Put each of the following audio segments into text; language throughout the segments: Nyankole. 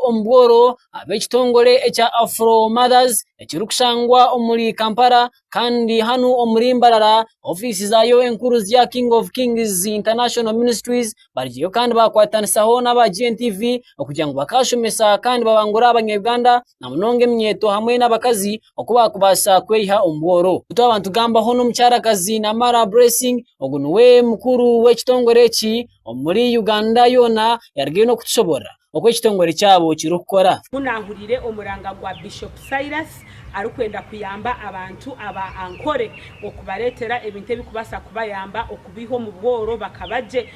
omu bworo ab'ekitongore ekya Afro Mothers ekirikushangwa omuri Kampala kandi hanu omuri Mbarara ofiisi zaayo enkuru ziri aha King of Kings International Ministries bariyo kandi baakwatanisaho n'aba GNTV okugira ngu bakaashomesa kandi babangure Abanya-Uganda na munonga eminyeeto hamwe n'abakazi oku baakubaasa kweyiha omu bworo. Ku twaba nitugambaho n'omukyarakazi Namara Blessing ogu niwe mukuru w'ekitongore eki omuri Uganda yoona yaarugayo n'okutushoboorora oku ekitongore kyabo kirikukora. Ku naahuriire omuranga gwa Bishop Silas arikwenda kuyamba abantu aba Ankole okubareetera ebintu ebirikubaasa kubayamba okubaiha omu bworo bakaba gye,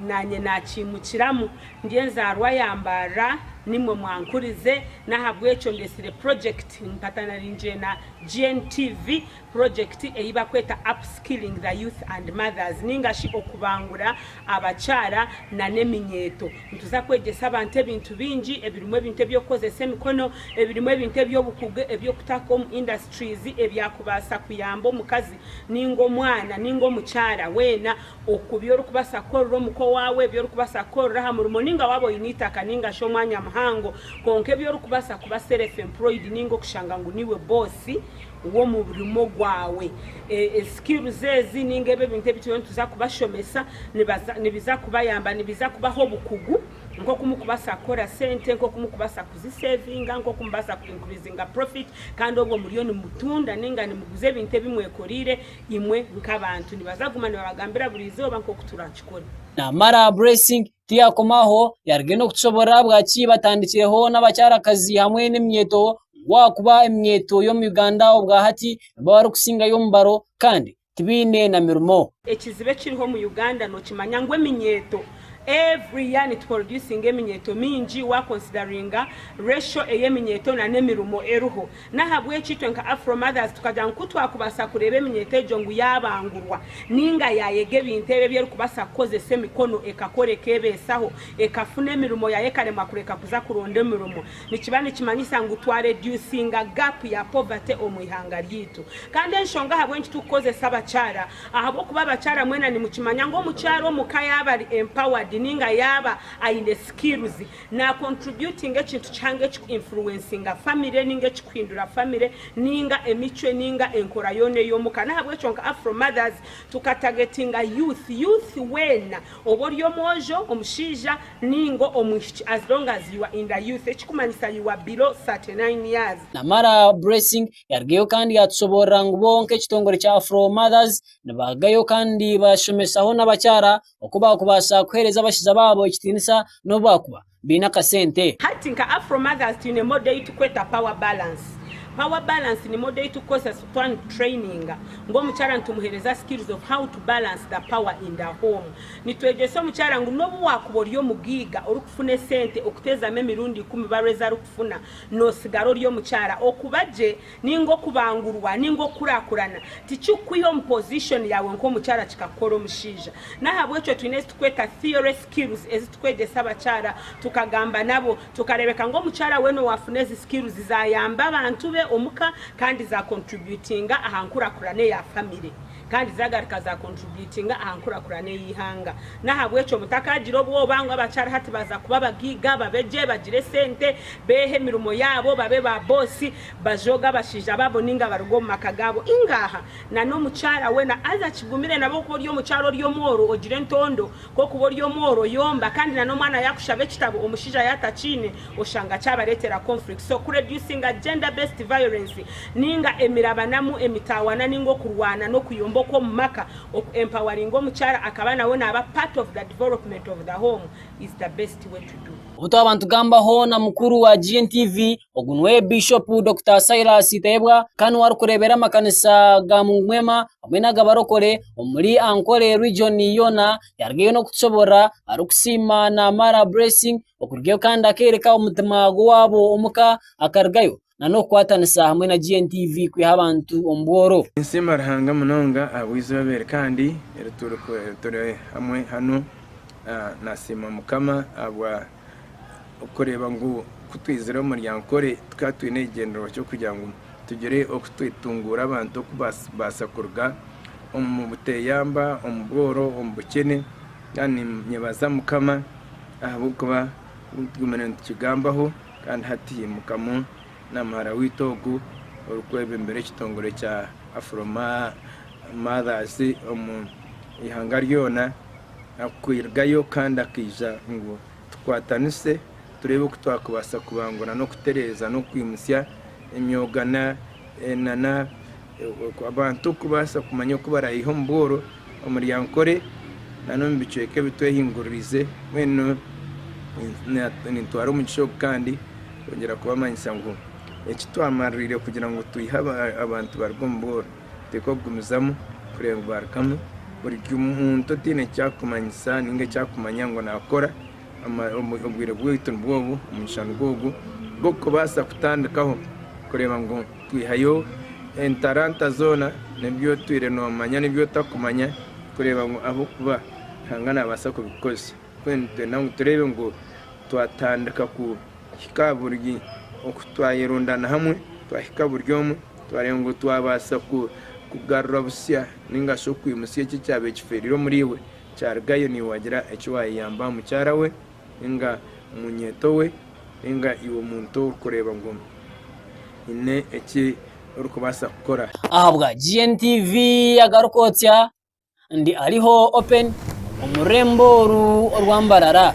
naanye naakiimukiramu. Ndi enzaarwa ya Mbarara, nimwe mwankurize, n'ahabw'ekyo ndetsire purojekiti mpatanariingyire na GNTV Purojekiti ei barikweta Upskilling the Youth and Mothers nainga shi Okubangura Abakyara nana Eminyeeto. Nituza kwegyesa abantu ebintu bingi ebirimu ebintu eby'okukozesa emikono, ebirimu ebintu eby'obukugu eby'okutaho omu industries ebyakubaasa kuyamba omukazi nainga omwana nainga omukyara weena oku bi orikubaasa kukorera omuka owaawe, bi orikubaasa kukorera aha murimo nainga waaba oine eitaka nainga shi omwanya muhango kwonka ebi orikubaasa kuba self employed nainga okushanga ngu niiwe boss w'omu burimo bwawe. Skills ezi ninga ebi ebintu ebi turiyo nituza kubashomesa nibiza kubayamba, nibiza kubaha obukugu nk'oku mukubasa kukora sente, nk'oku mukubasa kuzisevinga, nk'oku mubasa ku increasinga profit kandi obwe muriyo nimutunda ninga nimuguza ebintu ebi mwekorire imwe nk'abantu. Nibaza kuguma nibabagambira buri izooba nk'oku turakikore. Namara blessing Tiyakoma aho yaruga enu kutushoboorora ahabwaki batandikireho n'abakyarakazi hamwe n'eminyeeto ahabw'okuba eminyeeto y'omu Uganda obwa hati nibo barikusingayo omubaro kandi tibaine na mirimo. Ekizibu ekiriho omu Uganda nookimanya ngu eminyeeto every year nituproducinga eminyeeto mingi waakonsidariinga ratio ey'eminyeeto nana emirimo eriho N'ahabw'ekyo itwe nka Afro Mothers tukagira ngu ku twakubaasa kureeba eminyeeto egyo ngu yaabangurwa nainga yaayega ebintu ebi ebi erikubaasa kukozesa emikono ekakora ekeebeesaho, ekafuna emirimo yaayo ekaremwa kureka kuza kuronda emirimo, nikiba nikimanyisa ngu twareduusinga gaapu ya poverty omu ihanga ryaitu. Kandi enshonga ahabw'enki turikukozesa abakyara, ahabw'okuba abakyara mwena nimukimanya ngu omukyara omu ka yaaba ari empowered nainga yaaba aine skills, Na contributinga ekintu kihango ekiku influencinga family ninga ekikuhindura family ninga emicwe ninga enkora yoona ey'omuka. Nahabwekyo nka Afro Mothers tukatagetinga youth, youth weena oba ori omwojo, omushaija ninga omwishiki as long as you are in the youth ekikumanyisa you are below 39 years. Namara Blessing yarugayo kandi yatusoborora ngu bo nk'ekitongore kya Afro Mothers nibarugayo kandi bashomesaho n'abakyara oku baakubaasa kuheereza abashaija baabo ekitiinisa n'obu baakuba baine akasente. Hati nka Afro Mothers twine modo ei turikweta Power Balance. Power Balance ni modo ei turikukoresa twaanikutureyininga ngu omukyara nitumuheereza skills of how to balance the power in the home. Nitwegyesa omukyara ngu n'obu waakuba ori omugaiga orikufuna esente okuteezamu emirundi ikumi barwe ezi arikufuna, nootsigara ori omukyara. Okuba gye ninga okubangurwa ninga okukurakurana tikikukwiha omu position yaawe nk'omukyara kikakukora omushaija nahabwekyo twine ezitukweta theory skills ezitukwegyesa abakyara tukagamba nabo tukarebeka ngu omukyara weena owafuna ezi skills zayamba abantu be omuka kandi za contributinga aha nkurakurana eya family. Kandi zagaruka za contributinga aha nkurakurana ey'eihanga. N'ahabw'ekyo mutakagira obwoba ngu abakyara hati baza kuba abagaiga, babe gye, bagire esente, beehe emirimo yaabo, babe ba boosi, bajooge abashaija baabo nainga baruge omu maka gaabo. Ingaaha na n'omukyara weena aza akigumire nabwo ku ori omukyara ori omworo ogira entondo, ku okuba ori omworo yomba, kandi na n'omwana yakushaba ekitabo omushaija yatakiine, oshanga kyabareetera conflict. So ku reducinga gender based violence ninga emirabanamu, emitaawana ninga okurwana n'okuyomba okw'omu maka, oku empoweringa omukyara akaba nawe naaba part of the development of the home is the best way to do. Obu twaba nitugambaho na mukuru wa GNTV, ogu niwe Bishop Dokita Silas Tayebwa kandi niwe arikureebera amakanisa ga Mungu Mwema hamwe n'agabarokore omuri Ankole region yoona, yarugayo n'okutushoboorora arikusiima naamara blessing okurugayo kandi akeereka omutima gw'owaabo omuka akarugayo nana okukwatanisa hamwe na GNTV kwiha abantu omu bworo. Ninsiima Ruhanga munonga ahabw'eizooba eri kandi eri turi hamwe hanu. Nasiima Mukama ahabw'okureeba ngu kutwizire omu Runyankore tukaba twine ekigyendererwa ky'okugira ngu tugire oku twetunguura abantu okubaasa kuruga omu buteyamba, omu bworo, omu bukyene kandi ninyebaza Mukama Ahabw'okuba nk'oku tugumire nitukigambaho, kandi hati haimukamu na muhara waitu ogu orikwebembera ekitongore kya Afro-Mothers omu ihanga ryona kurugayo kandi akaija ngu tukwatanise tureebe oku twakubaasa kubangura n'okutereeza n'okwimutsya emyoga na Abantu kubaasa kumanya oku baraayiha omu bworo, omu ryankore, n'omu bicweka ebi twehinguririize, mbwenu nintwara omugisha ogu kandi kwongyera kubamanyisa ngu eki twamaririire kugira ngu twihe abantu baruga omu bworo tikukugumizamu kureeba ngu baarugamu. Buri muntu otaine eki arikumanyisa nainga eki arikumanya ngu naakora, obwire bwaitu nibwo obu, omugisha nigwo ogu gw'okubaasa kutandikaho kureeba ngu Kwihayo entaranta zoona n'ebi otwire noomanya n'ebi otakumanya kureeba ngu ahabw'okuba Ruhanga naabaasa kubikukoresa. Mbwenu nitwenda ngu tureebe ngu twatandika kuhika aha buri oku twayerundana hamwe, twahika buri omwe, twareeba ngu twabaasa kugarura busya nainga shi okwimutsya eki ekyabaire kifeereire omuriiwe, kyarugayo niiwe waagira eki waayeyambaho mukyara we. Enga munyeto we, enga iwe muntu orikureeba ngu haine eki orikubaasa kukora. Ahabwa GNTV agaruka otya ndi ariho open omu rurembo oru orwa mbarara.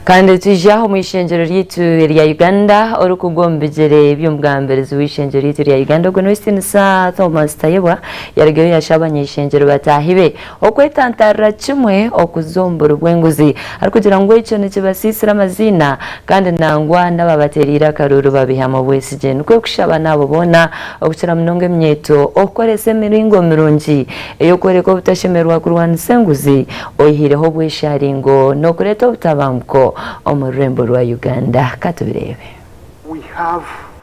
Kandi twija omu ishengyero ryaitu erya Uganda orikugwa omu bigyere by'omugambirizi w'ishengyero ryaitu erya Uganda, ogwo n'Ow'ekitinisa Thomas Tayebwa, yarugireyo yashaaba abany'eishengyero bataahi be. Okwetantarira kimwe okuza omu buri bw'enguzi arikugira ngu ekyo nikibasiisira amaziina kandi nangwa n'ababateereire akaruuru babeihamu obwesigye. Nikwo kushaba n'abo boona, okukira munonga eminyeeto, okukoresa emiringo mirungi ey'okworeka obutashemererwa kurwanisa enguzi oihaireho obweshaaringo n'okureeta obutabanguko omu rurembo rwa Uganda. Ka tubireebe. We have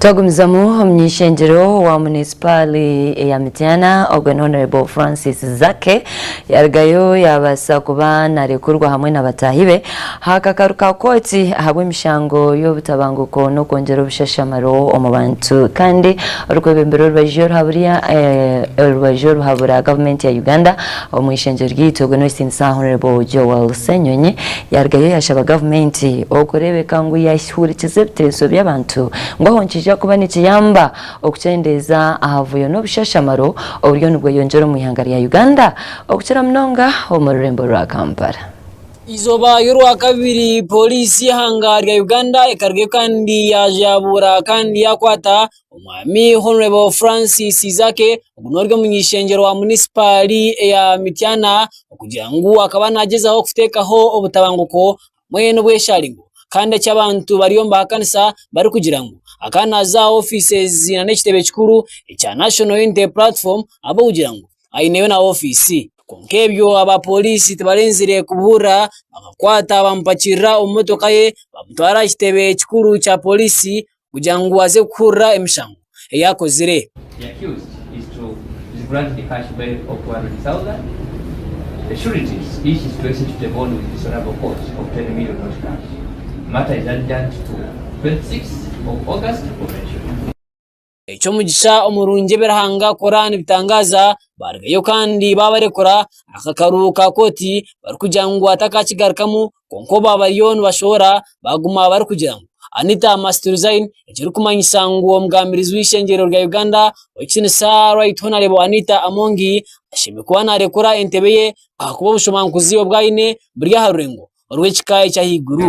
Twagumizamu omu ishengyero wa munisipaali eya Mityana ogwo ni Honourable Francis Zaake. Yarugayo yaabaasa kuba naarekurwa hamwe na bataahi be aha kakaru ka kooti ahabw'emishango y'obutabanguko n'okwongyera obushashamaro omu bantu kandi orikwebembera orubaju oruhaburya orubaju oruhabura gavumenti ya Uganda omu ishengyero ryaitu ogwo n'ow'ekitinisa Hon Joel Ssenyonyi yarugayo yaashaba gavumenti okureebeka ngu yaahurikiza ebiteeso by'abantu ngu aho nikiija kuba nikiyamba Okukyendeeza aha buvuyo n'obushashamaro oburiyo nibweyongyera omu ihanga rya Uganda, okukira munonga omu rurembo rwa Kampala. Eizooba y'Orwakabiri Pooriisi y'eihanga rya Uganda ekarugayo kandi yaaza yaabuura kandi yaakwata omwami Hon Francis Zaake ogu n'ori omuny'eishengyero wa munisipaari eya Mityana okugira ngu akaba naagyezaho kuteekaho obutabanguko mbwenu obweshari ngu kandi eki abantu bariyo nibahakanisa barikugira ngu akaba naaza aha ofiisi nari ekitebe kikuru ekya National Unity Platform ahabw'okugira ngu aineyo na ofiisi. Kwonka ebyo abaapooriisi tibarenzire kubihuurira bakamukwata bamupakirira omu motoka ye bamutwara aha kitebe kikuru kya pooriisi. kugira ngu aze kuhurira emishango ei akozire. Eky'omugisha omurungi ebi Ruhanga akora nibitangaaza, baarugayo kandi baabarekura, akakaru ka kooti barikugira ngu atakakigarukamu kwonka obu bariyo nibashohora baguma barikugira ngu Anita must resign ekirikumanyisa ngu omugambirizi w'eishengyerero rya Uganda Owekitinisa Right Honarebo Anita Amongi ashemereire kuba narekura entebe ye ahakuba obushobooromankuzi obu aine buri aha rurengo orw'ekika ekyahaiguru.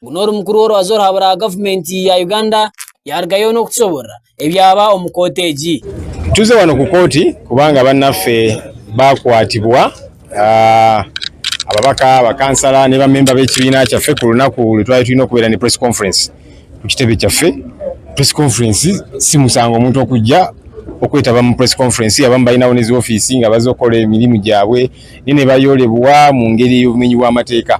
ngu n'ori mukuru w'orubaju oraabe orwa gavumenti ya Uganda yaarugayo n'okutushoboorora ebyaba omu kooti egi. Tuze wano ku kooti kubanga bannaffe baakwatibwa ah, ababaka bakansala ne bamemba b'ekibiina kyaffe ku lunaku lu twali twine okubeera ne press conference ku kitebe kyaffe. Press conference si musango omuntu okujja okwetaba mu press conference abamu balinaho n'ezi ofiisi nga baza okukola emirimu gyabwe naye nebayoorebwa mu ngeri ey'obumenyi bw'amateeka.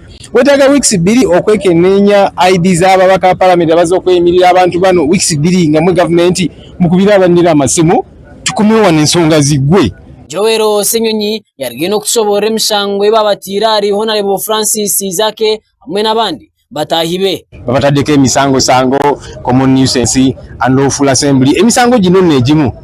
Kwetaaga weeks ibiri okwekeneenya ID zaabo abaka paramenti abaza okweyimirira abantu banu weeks ibiri nga mwe gavumenti mukubire abanira amasimu tukomeho wanu ensonga zigwe. Joel Ssenyonyi yariyo n'okutushoboorora emishango ei baabataire ahari Honarebo Francis Zaake hamwe n'abandi bataahi be. Babataddeko emisangosango, Common Nuisance and Lawful Assembly, emisango egi n'ono negimu.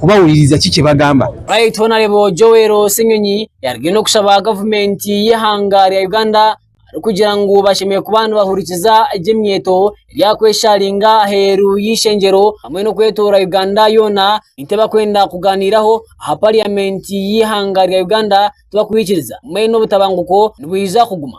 kubahuririza ki kibagamba. Baitu Honarebo Joel Ssenyonyi yarugire n'okushaba gavumenti y'eihanga rya Uganda arikugira ngu bashemereire kuba nibahurikiza egyo emyeto eryakwesharinga aheeru y'eishengyero hamwe n'okwetoorora Uganda yoona nitwe bakwenda kuganiiraho aha pariyamenti y'eihanga rya Uganda tibakwikiriza hamwe n'obutabanguko nibwija kuguma.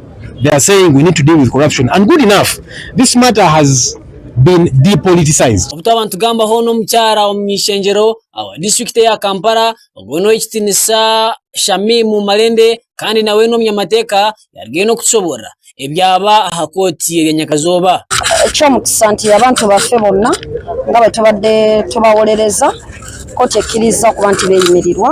they are saying we need to deal with corruption and good enough this matter has been depoliticised. Obu twaba nitugambaho n'omukyara omw'ishengyero owa disiturikiti eya Kampala ogwo n'ow'ekitinisa Shamim Malende kandi nawe n'omunyamateeka yarugayo n'okutushoboorora ebyaba aha kooti erya Nyakazooba. Eky'omukisa nti abantu baffe bonna nga bwe tubadde tubawolereza kooti ekkirizza okuba nti beeyimirirwa.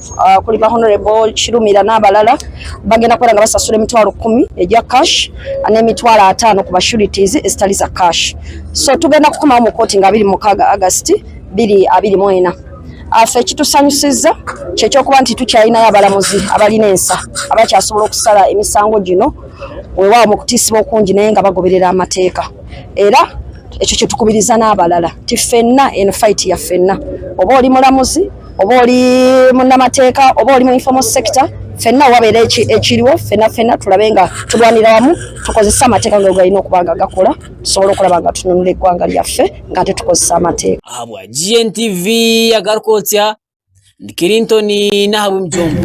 kuri ba Honourable Kirumira n'abarara bagenda kubera nibasasura emitwaro kumi erya cash n'emitwaro atano kuba sureties ezitari za cash so tugenda kukomaho omu kooti ngu abiri mukaaga August biri abiri mwena afe ekitusanyusiza kyekyokuba nti tukyayinayo abaramuzi abari nensa abakyasobora okusara emisango gino wewawo mukutisibwa okungi naye nga bagoberera amateeka era ekyo kyetukubiriza n'abarara nti fena eno fight ya fena oba ori muramuzi. oba ori munamateeka oba ori mu informal sector fena wabaire ekiriwo fena fena turabe nga turwanira wamu tukozese amateeka ngu gaine okuba nga gakora tusobole okuraba nga tununura egwanga ryaffe nga hati tukozesa amateeka. Ahabwa GNTV agarukotsya ndi Kirinton Nahabwimujumba.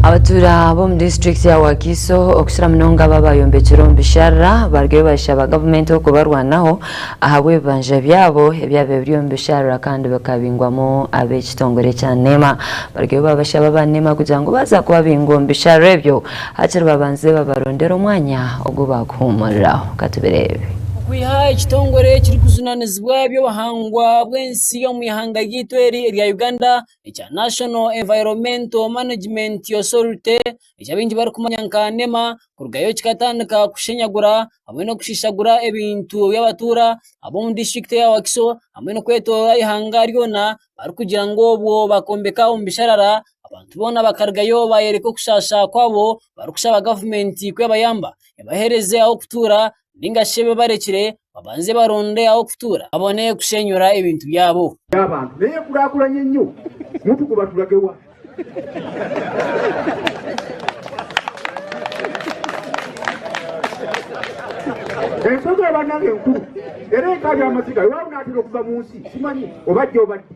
Abatuura b'omu disiturikiti ya Wakiso okukira munonga abo abayombekire omu bisharara bariyo nibashaba gavumenti okubarwanaho ahabw'ebibanja byabo ebyabaire biri omu bisharura kandi bikabingwamu ab'ekitongore kya nema, barugeyo babashaba aba nema kugira ngu baaza kubabinga omu bisharura ebyo hakiri babanze babarondere omwanya ogu baakuhuumuriraho. Ka tubireebe. Okwiha ekitongore ekirikujunanizibwa eby'obuhangwa bw'ensi omu ihanga ryaitu eri erya Uganda ekya National Environmental Management Authority eki abaingi barikumanya nka nema kurugayo kikatandika kushenyagura hamwe n'okushishagura ebintu by'abatuura ab'omu disiturikiti eya Wakiso hamwe n'okwetooroora eihanga ryona barikugira ngu obwo bakombeka omu bisharara abantu boona bakarugayo baayoreka okushaasha kwabo barikushaba gavumenti kwebayamba ebahereze ah'okutuura ninga shi ebi barekire babanze baronde ah'okutuura babone kushenyura ebintu byabo. y'abantu neyekurakuranye nyo mutuku baturage wa. Ensozi eba nayo enkuru era enka y'amaziga iwabo natera okuva munsi simanyi oba ajja oba addi.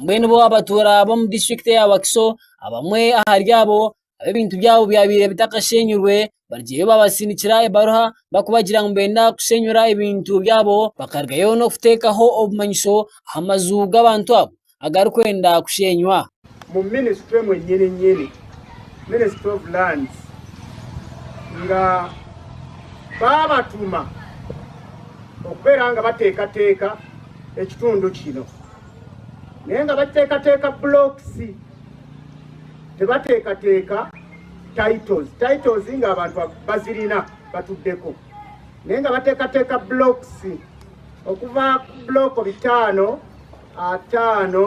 Mbwenu bo abatuura b'omu disiturikiti ya Wakiso abamwe ahari abo abu ebintu byabo byabaire bitakasheenyirwe bariyo babasindikira ebaruha barikubagira ngu nibeenda kushenyura ebintu byabo bakarugayo n'okuteekaho obumanyiso aha maju g'abantu abo agarikwenda kusheenywa. mu minisitule emwe nyinyinyini, Ministry of Lands, nga baabatuma okubeera nga bateekateeka ekitundu kino. Naye nga bateekateeka bulookisi, tibateekateeka titles. Titles nga abantu bazirina batuddeko, naye nga bateekateeka bulookisi okuva ku bulooko bitaano, ataano,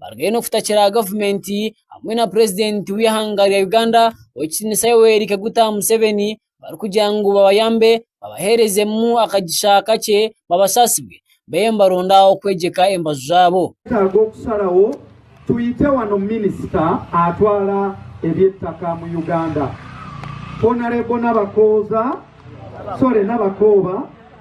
bariyo nibafutakira aha gavumenti hamwe na purezidenti w'eihanga rya Uganda ow'ekitinisa Yoweri Kaguta Museveni barikugira ngu babayambe babaherezemu akagisha kakye babasaasirwe babe nibaronda okwegyeka embaju zaabo. Twetaaga okusharawo twite wano minisita atwara eby'ettaka mu Uganda Honarebo Nabakooza sorry Nabakooba.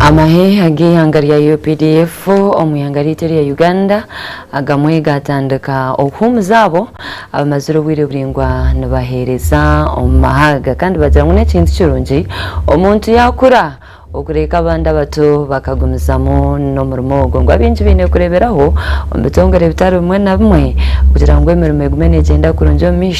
Amahe ag'eihanga rya updf omu ihanga ryaitu erya Uganda agamwe gaatandika okuhuumuza abo abamazire obwire buraingwa nibaheereza omu mahaaga kandi bagira ngu n'ekintu kirungi omuntu yaakura okureeka abandi abato bakagumizamu n'omurimo ogwo. Ngu abaingi baine kureeberaho omu bitongore bitari bimwe na bimwe kugira ngu emirimo egume neegyenda kurungi omu maisho.